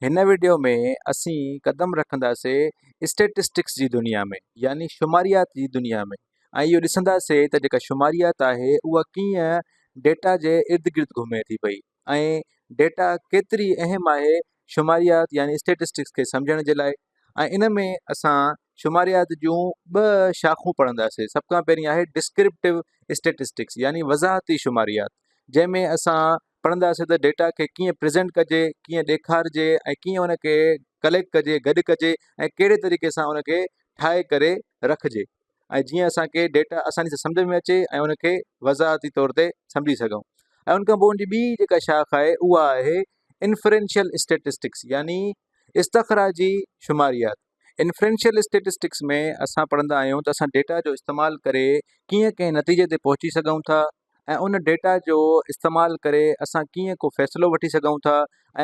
هن وڊيو ۾ اسين قدم رکنداسين اسٽيٽسٽڪس جي دنيا ۾ يعني شماريات جي دنيا ۾ ۽ اهو ڏسنداسين ته جيڪا شماريات آهي اها ڪيئن ڊيٽا جي ارد گرد گهمي ٿي پئي ۽ ڊيٽا ڪيتري اهم آهي شماريات يعني اسٽيٽسٽڪس کي سمجهڻ جي لاء ۽ ان ۾ اسان شماريات جون ٻه شاخون پڙهنداسين سڀ کان پهرين آهي ڊسڪرپٽو اسٽيٽسٽڪس يعني وضاحتي شماريات جنهن ۾ اسان پڙهنداسين ته ڊيٽا کي ڪيئن پريزينٽ ڪجي، ڪيئن ڏيکارجي ۽ ڪيئن ان کي ڪليڪٽ ڪجي، گڏ ڪجي ۽ ڪهڙي طريقي سان ان کي ٺاهي ڪري رکجي ۽ جيئن اسان کي ڊيٽا آساني سان سمجهه ۾ اچي ۽ ان کي وضاحتي طور تي سمجهي سگهون ۽ ان کان پوء ان جي ٻي جيڪا شاخ آهي اها آهي انفرينشل اسٽيٽسٽڪس يعني استخراجي شماريات. انفرينشل اسٽيٽسٽڪس ۾ اسان پڙهندا آهيون ته اسان ڊيٽا جو استعمال ڪري ڪيئن ڪنهن نتيجي تي پهچي سگهون ٿا ۽ ان ڊيٽا جو استعمال ڪري اسان ڪيئن ڪو فيصلو وٺي سگهون ٿا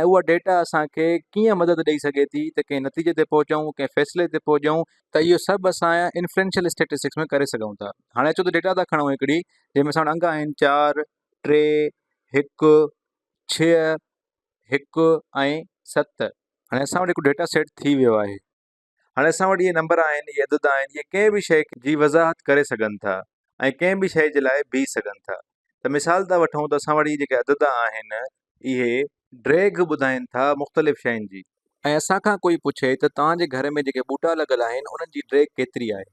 ۽ اها ڊيٽا اسان کي ڪيئن مدد ڏئي سگهي ٿي ته ڪنهن نتيجي تي پهچون ڪنهن فيصلي تي پهچون ته اهو سڀ اسان انفرينشل اسٽيٽسٽڪس ۾ ڪري سگهون ٿا هاڻي اچو ته ڊيٽا ٿا کڻون هڪڙي جنهن ۾ ساڻ انگ آهن چار ٽي هڪ ڇهه هڪ ۽ ست هاڻي اسان وٽ هڪ ڊيٽا سيٽ ٿي ويو آهي هاڻي اسان وٽ اهي نمبر آهن اهي عدد آهن اهي ڪنهن به شيء جي وضاحت ڪري سگهن ٿا ۽ ڪنهن به شيء جي لاء بيهي سگهن ٿا ته مثال ٿا وٺون ته اسان وٽ اهي جيڪي عدد آهن اهي ڊيگهه ٻڌائين ٿا مختلف شين جي. ۽ اسان کان ڪوئي پڇي ته توهان جي گهر ۾ جيڪي ٻوٽا لڳل آهن انهن جي ڊيگهه ڪيتري آهي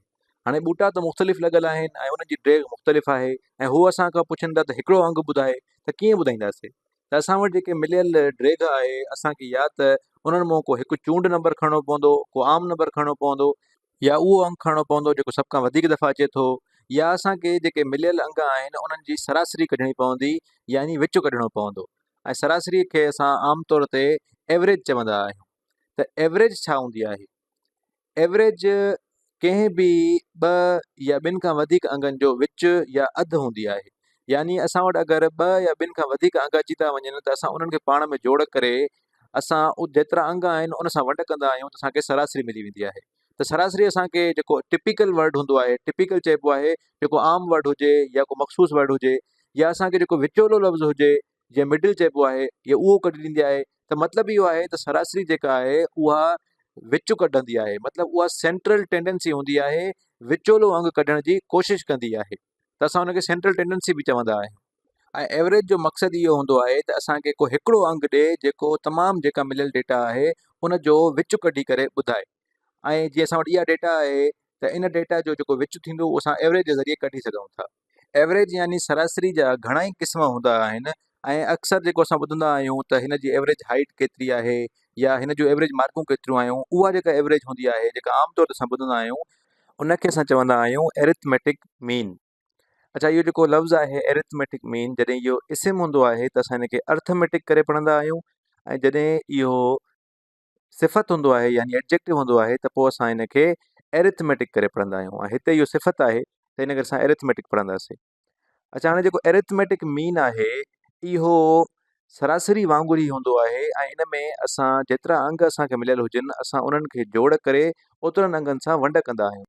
هاڻي ٻوٽا ته مختلف لڳل آهن ۽ انهن جي ڊيگهه مختلف آهي ۽ هو اسان کان پڇن ٿا ته هڪڙو انگ ٻڌاء ته ڪيئن ٻڌائينداسي ته اسان وٽ جيڪي مليل ڊريگهه آهي اسان کي يا ته انهن مان ڪو هڪ چونڊ نمبر کڻڻو پوندو ڪو عام نمبر کڻڻو پوندو يا اهو انگ کڻڻو پوندو جيڪو سڀ کان وڌيڪ دفعا اچي ٿو يا اسان کي جيڪي مليل انگ آهن انهن جي سراسري ڪڍڻي پوندي يعني وچ ڪڍڻو پوندو ۽ سراسري کي اسان عام طور تي ايوريج چوندا آهيون ته ايوريج ڇا هوندي آهي؟ ايوريج ڪنهن به ٻه يا ٻن کان وڌيڪ انگن جو وچ يا اڌ هوندي آهي يعني اسان وٽ اگر ٻه يا ٻن کان وڌيڪ انگ اچي ٿا وڃن ته اسان انهن کي پاڻ ۾ جوڙ ڪري اسان جيترا انگ آهن ان سان ونڊ ڪندا آهيون ته اسانکي سراسري ملي ويندي آهي ته سراسري اسانکي جيڪو ٽپيڪل ورڊ هوندو آهي ٽپيڪل چئبو آهي جيڪو عام ورڊ هجي يا ڪو مخصوص ورڊ هجي يا اسانکي جيڪو وچولو لفظ هجي جنهن مڊل چئبو آهي يا اهو ڪڍي ڏيندي آهي ته مطلب اهو آهي ته سراسري جيڪا آهي اها وچ ڪڍندي آهي مطلب اها سينٽرل ٽينڊنسي هوندي آهي وچولو انگ ڪڍڻ جي ڪوشش ڪندي آهي ته اسان ان کي سينٽرل ٽينڊنسي به چوندا آهيون ۽ ايوریج جو مقصد اهو هوندو آهي ته اسان کي ڪو هڪڙو انگ ڏي جيڪو تمام جيڪا مليل ڊيٽا آهي ان جو وچ ڪڍي ڪري ٻڌائي ۽ جي اسان وٽ اها ڊيٽا آهي ته ان ڊيٽا جو جيڪو وچ ٿيندو اهو اسان ايوریج جي ذريعي ڪڍي سگهون ٿا ايوريج يعني سراسري جا گهڻا ئي قسم هوندا آهن ۽ اڪثر جيڪو اسان ٻڌندا آهيون ته هن جي ايوريج هائيٽ ڪيتري آهي يا هن جون ايوريج مارڪون ڪيتريون آهيون اها جيڪا ايوريج هوندي آهي جيڪا عام طور تي اسان ٻڌندا آهيون ان کي اسان چوندا آهيون ارٿميٽڪ مين اڇا اهو جيڪو لفظ آهي ارٿميٽڪ مين جڏهن اهو اسم هوندو آهي ته اسان هن کي ارٿميٽڪ ڪري پڙهندا آهيون ۽ جڏهن اهو صفت هوندو آهي يعني Adjective هوندو آهي ته پوء اسان ان کي Arithmetic ڪري پڙهندا آهيون ۽ هتي اهو صفت آهي ته ان ڪري اسان Arithmetic پڙهنداسين اچا هاڻي جيڪو Arithmetic مين آهي اهو سراسري وانگر ئي هوندو آهي ۽ ان ۾ اسان جيترا انگ اسان کي مليل هجن اسان انهن کي جوڙ ڪري اوترن انگن سان ونڊ ڪندا آهيون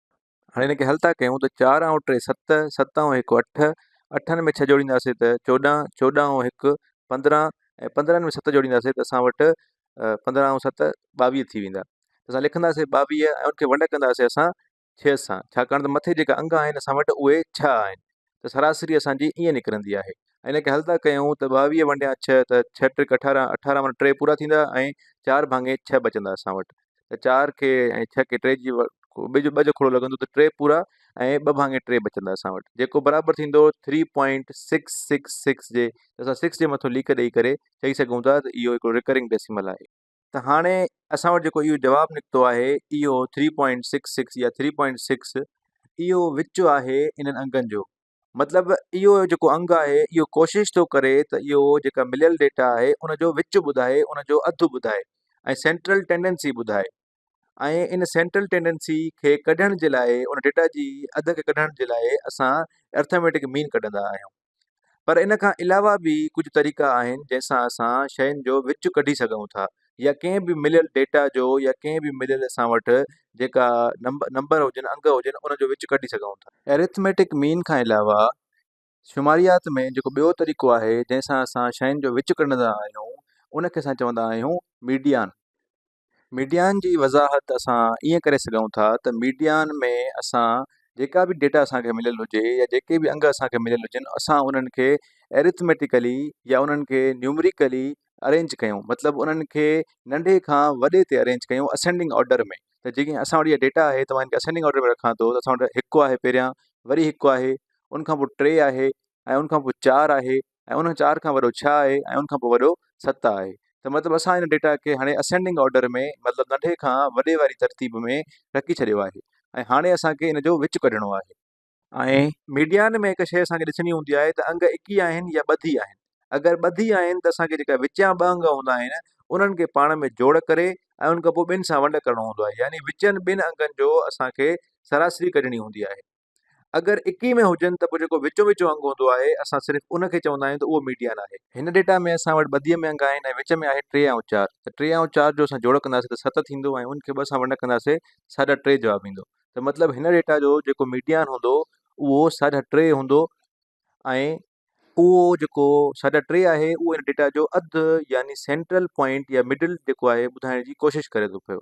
هاڻي هن کي حل ٿا ڪيون ته چار ۽ ٽي ست، ست ۽ هڪ اٺ، اٺن ۾ ڇهه جوڙينداسين ته چوڏهن، چوڏهن ۽ هڪ پندرهن ۽ پندرهن ۾ ست جوڙينداسين ته اسان وٽ پندرهن ۽ ست ٻاويهه ٿي ويندا ته اسان لکنداسين ٻاويهه ۽ ان کي ونڊ ڪنداسين اسان ڇهه سان ڇاڪاڻ ته مٿي جيڪا انگ آهن اسان وٽ اهي ڇهه آهن ته سراسري اسان جي ائين نڪرندي آهي ۽ ان کي حل ٿا ڪيون ته ٻاويهه ونڊيان ڇهه ته ڇهه ٽرڪ اٺارهن اٺارهن مانا ٽي پورا ٿيندا ۽ چار ڀاڱي ڇهه بچندا اسان وٽ ته چار کي ۽ ڇهه کي ٽي جي ٻئي جو ٻه جو کڙو لڳندو ته ٽي پورا ۽ ٻه ڀاڱي ٽي بچندا اسان وٽ جيڪو برابر ٿيندو three point six six six جي ته اسان سڪس جي مٿو ليڪ ڏئي ڪري چئي سگهون ٿا ته اهو هڪڙو رڪرنگ ڊيسيمل آهي. ته هاڻي اسان وٽ جيڪو اهو جواب نڪتو آهي اهو ٿري پوائنٽ سڪس سڪس يا ٿري پوائنٽ سڪس اهو وچ آهي انهن انگن جو مطلب اهو جيڪو انگ آهي اهو ڪوشش ٿو ڪري ته اهو جيڪا مليل ڊيٽا آهي ان جو وچ ٻڌائي ان جو اڌ ٻڌائي ۽ سينٽرل ٽينڊنسي ٻڌائي ۽ ان سينٽرل ٽينڊنسي کي ڪڍڻ جي لاء ان ڊيٽا جي اڌ کي ڪڍڻ جي لاء اسان ارٿميٽڪ مين ڪڍندا آهيون پر ان کان علاوه به ڪجهه طريقا آهن جنهن سان اسان شين جو وچ ڪڍي سگهون ٿا يا ڪنهن به مليل ڊيٽا جو يا ڪنهن به مليل اسان وٽ جيڪا نمبر هجن انگ هجن ان جو وچ ڪڍي سگهون ٿا. ارٿميٽڪ مين کان علاوه شماريات ۾ جيڪو ٻيو طريقو آهي جنهن سان اسان شين جو وچ ڪڍندا آهيون ان کي اسان چوندا آهيون ميڊيان. ميڊيان جي وضاحت اسان ائين ڪري سگهون ٿا ته ميڊيان ۾ اسان جيڪا به ڊيٽا اسان کي مليل هجي يا جيڪي به انگ اسان کي مليل هجن اسان انهن کي Arithmetically يا انهن کي Numerically Arrange ڪيون مطلب انهن کي ننڍي کان وڏي تي Arrange ڪيون Ascending Order ۾ ته جيڪي اسان وٽ جيڪي ڊيٽا آهي ته مان ان کي Ascending Order ۾ رکان ٿو ته اسان وٽ هڪ آهي پهريان وري هڪ آهي ان کان پوء ٽي آهي ۽ ان کان پوء چار آهي ۽ انهن چار کان وڏو ڇهه آهي ۽ ان کان پوء وڏو ست آهي ته مطلب اسان ان ڊيٽا کي هاڻي Ascending Order ۾ مطلب ننڍي کان وڏي واري ترتيب ۾ رکي ڇڏيو آهي ۽ هاڻي اسان کي ان جو وچ ڪڍڻو آهي. ۽ ميڊيان ۾ هڪ شيء اسان کي ڏسڻي هوندي آهي ته انگ اڪي آهن يا ٻڌي آهن. اگر ٻڌي آهن ته اسان کي جيڪا وچيان ٻه انگ هوندا آهن انهن کي پاڻ ۾ جوڙ ڪري ۽ ان کان پوء ٻن سان ونڊ ڪرڻو هوندو آهي يعني وچين ٻن انگن جو اسان کي سراسري ڪڍڻي هوندي آهي. اگر اڪي ۾ هجن ته پوء جيڪو وچون وچون انگ هوندو آهي اسان صرف ان کي چوندا آهيون ته اهو ميڊيان آهي. هن ڊيٽا ۾ اسان وٽ ٻڌيء ۾ انگ آهن ۽ وچ ۾ آهي ٽي ۽ چار ته ٽي ۽ چار جو اسان جوڙ ڪنداسين ته ست ٿيندو ۽ ان کي ٻه سان ونڊ ڪنداسين ته ساڍا ٽي جواب ايندو ته مطلب هن ڊيٽا جو جيڪو ميڊيان هوندو اهو ساڍا ٽي هوندو ۽ اهو جيڪو ساڍا ٽي آهي اهو ان ڊيٽا جو اڌ يعني سينٽرل پوائنٽ يا مڊل جيڪو آهي ٻڌائڻ جي ڪوشش ڪري ٿو پيو.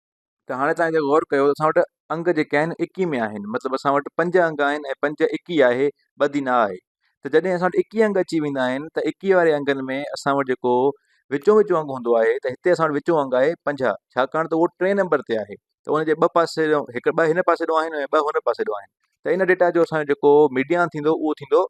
ته هاڻي تان جي غور ڪيو اسان وٽ انگ جيڪي آهن اڪي ۾ آهن مطلب اسان وٽ پنج انگ آهن ۽ پنج اڪي آهي ٻڌي نه آهي ته جڏهن اسان وٽ اڪي انگ اچي ويندا آهن ته اڪي واري انگن ۾ اسان وٽ جيڪو وچو وچو انگ هوندو آهي ته هتي اسان وٽ وچو انگ آهي پنجاهه ڇاڪاڻ ته اهو ٽئين نمبر تي آهي ته ان جي ٻه پاسي هڪ ٻه هن پاسي ڏو آهن ۽ ٻه هن پاسي ڏو آهن ته ان ڊيٽا جو اسانجو جيڪو ميڊيان ٿيندو اهو ٿيندو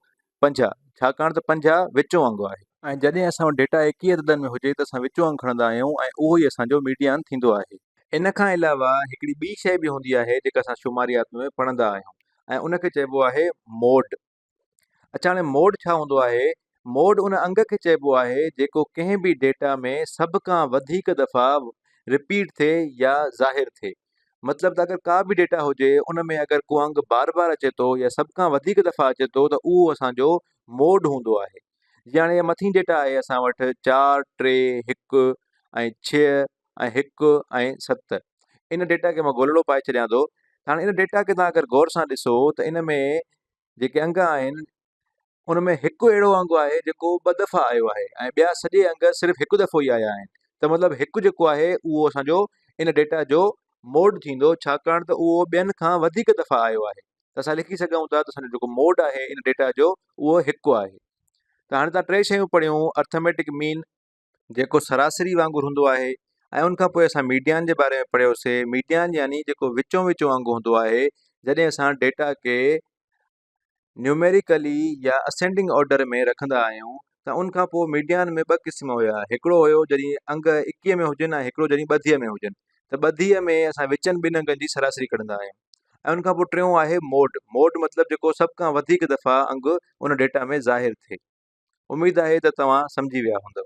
پنجاهه ڇاڪاڻ ته پنجاهه وچون انگ آهي. ۽ جڏهن اسان وٽ ڊيٽا ايڪيهه عددن ۾ هجي ته اسان وچون انگ کڻندا آهيون ۽ اهو ئي اسان جو ميڊيان ٿيندو آهي. ان کان علاوه هڪڙي ٻي شيء به هوندي آهي جيڪا اسان شماريات ۾ پڙهندا آهيون ۽ ان کي چئبو آهي موڊ. اڇا هاڻي موڊ ڇا هوندو آهي؟ موڊ ان انگ کي چئبو آهي جيڪو ڪنهن به ڊيٽا ۾ سڀ کان وڌيڪ دفعا رپيٽ ٿئي يا ظاهر ٿئي. مطلب ته اگر ڪا به ڊيٽا هجي ان ۾ اگر ڪو انگ بار بار اچي ٿو يا سڀ کان وڌيڪ دفعا اچي ٿو ته اهو اسان جو موڊ هوندو آهي جي هاڻي مٿين ڊيٽا آهي اسان وٽ چار ٽي هڪ ۽ ڇهه ۽ هڪ ۽ ست ان ڊيٽا کي مان گولڙو پائي ڇڏيان ٿو هاڻي ان ڊيٽا کي تان اگر غور سان ڏسو ته ان ۾ جيڪي انگ آهن ان ۾ هڪ اهڙو انگ آهي جيڪو ٻه دفعا آيو آهي ۽ ٻيا سڄي انگ صرف هڪ دفعو ئي آيا آهن ته مطلب هڪ جيڪو آهي اهو اسانجو ان ڊيٽا جو موڊ ٿيندو ڇاڪاڻ ته اهو ٻين کان وڌيڪ دفعا آيو آهي ته اسان لکي سگهون ٿا ته اسانجو جيڪو موڊ آهي ان ڊيٽا جو اهو هڪ آهي ته هاڻي تان ٽي شيون پڙهيون ارٿميٽڪ مين جيڪو سراسري وانگر هوندو آهي ۽ ان کان پوء اسان ميڊيان جي باري ۾ پڙهيوسي ميڊيان يعني جيڪو وچون وچون وانگر هوندو آهي جڏهن اسان ڊيٽا کي نيوميريڪلي يا اسينڊنگ آرڊر ۾ رکندا آهيون ته ان کان پوء ميڊيان ۾ ٻه قسم هيا هڪڙو هيو جڏهن انگ اڪيهه ۾ هجن ۽ هڪڙو جڏهن ٻڌيء ۾ هجن ته ٻڌيء ۾ اسان وچن ٻن انگن جي سراسري ڪڍندا آهيون ۽ ان کان پوء ٽيون آهي موڊ موڊ مطلب جيڪو سڀ کان وڌيڪ دفعا انگ ان ڊيٽا ۾ ظاهر ٿئي اميد آهي ته توهان سمجهي ويا هوندؤ.